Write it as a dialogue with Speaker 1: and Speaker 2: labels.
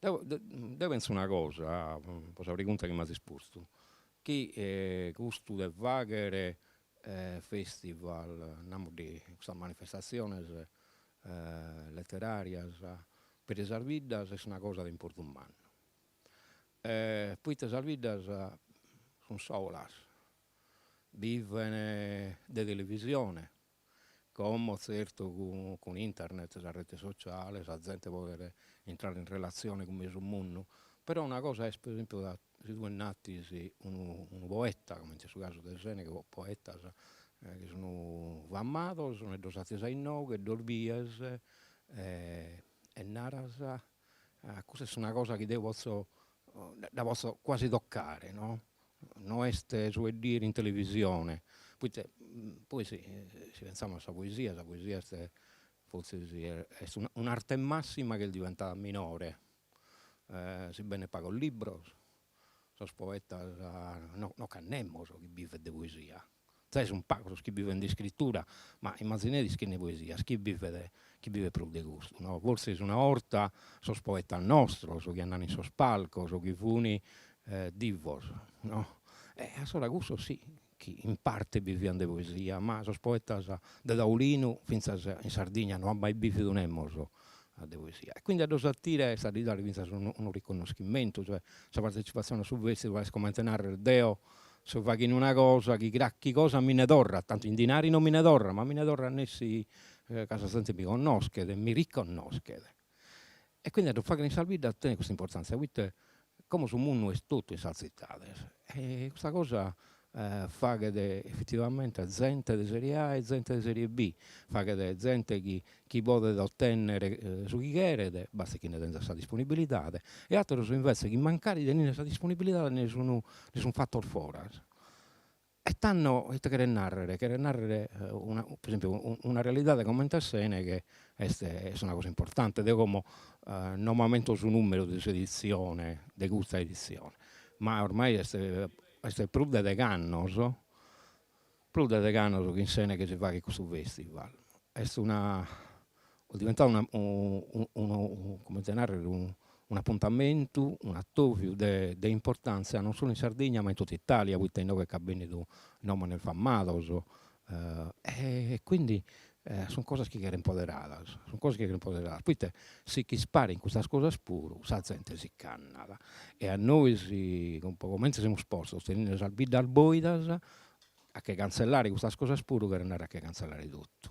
Speaker 1: Deo deo penso una cosa, pro sa pregunta chi m'as postu, chi custu de fagher festival, namus de custas manifestatziones letterarias peri sas biddas est una cosa de importu mannu poita sas biddas sun solas, biven de televisione Como zertu cun internet, sa rete sociale, sa zente podet intrare in relatzione cun mesu mundu, però una cosa est pro esempiu ca si tue nd'atis unu poeta, comente est su casu de Seneghe, o poetas chi sun famados e ddos atis a inoghe ddos bies e naras custa est una cosa chi deo potzo dda potzo quasi toccare no, no est su 'e ddu 'iere in televisione, poita poi si si pensamus a sa poesia, sa poesia est fortzis est un'arte massima chi est diventada minore, si bennen pagos libros Sos poetas no ch'at nemos chi bivet de poesia, zai sun pagos sos chi bivent de iscritura, ma immazzineris chi nch'at poetas chi bivet chi bivet pro de custu no, forsis una 'orta sos poetas nostros chi andaian in sos palcos chi funi divos no, e assora custos sì chi in parte bivian de poesia, ma sos poetas de taulinu fintzas in Sardigna no at mai bividu nemos de poesia e quindi a ddos attire est a ddis dare fintzas unu unu riconnoschimentu, cioè sa partecipazione a su festival est comente narrer deo so faghende una cosa chi cracchi cosa mi nde torrat, tantu in dinari non mi nde torrat, ma mi nde torrat nessi ca sa zente mi connoschet e mi riconnoschet E quindi a ddu fagher in sas biddas tenet custa importantzia poita como su mundu est totu in sas zittades e custa cosa faghet effettivamente zente de serie A e zente de serie B, faghet zente chi chi podet ottennere su chi cheret, bastet chi nde tenzat sa disponibilidade e atteros invece chi mancari teninde sa disponibilidade nde sun nde sun fattos foras E tando ite cheret narrer, cheret narrer una pro esempiu una realidade comente a Seneghe est est una cosa importante, deo como no m'ammento su nummero de s'edizione, de custa edizione, ma oramai est est prus de degh'annos, prus de degh'annos chi in Seneghe si faghet custu festival, est una Est diventadu una unu comente narrer un'apuntamentu, un'atoviu de de importantzia non solu in Sardigna ma in totu Italia, poita inoghe ch'at bennidu nomones famados e quindi sun cosas chi cheren poderadas, sun cosas chi cheren poderadas, poita si ch'isparin custas cosas puru sa zente si ch'annat e a nois po comente semus postos teninde sas biddas boidas a che canzellare custas cosas puru cheret narrer a che canzellare totu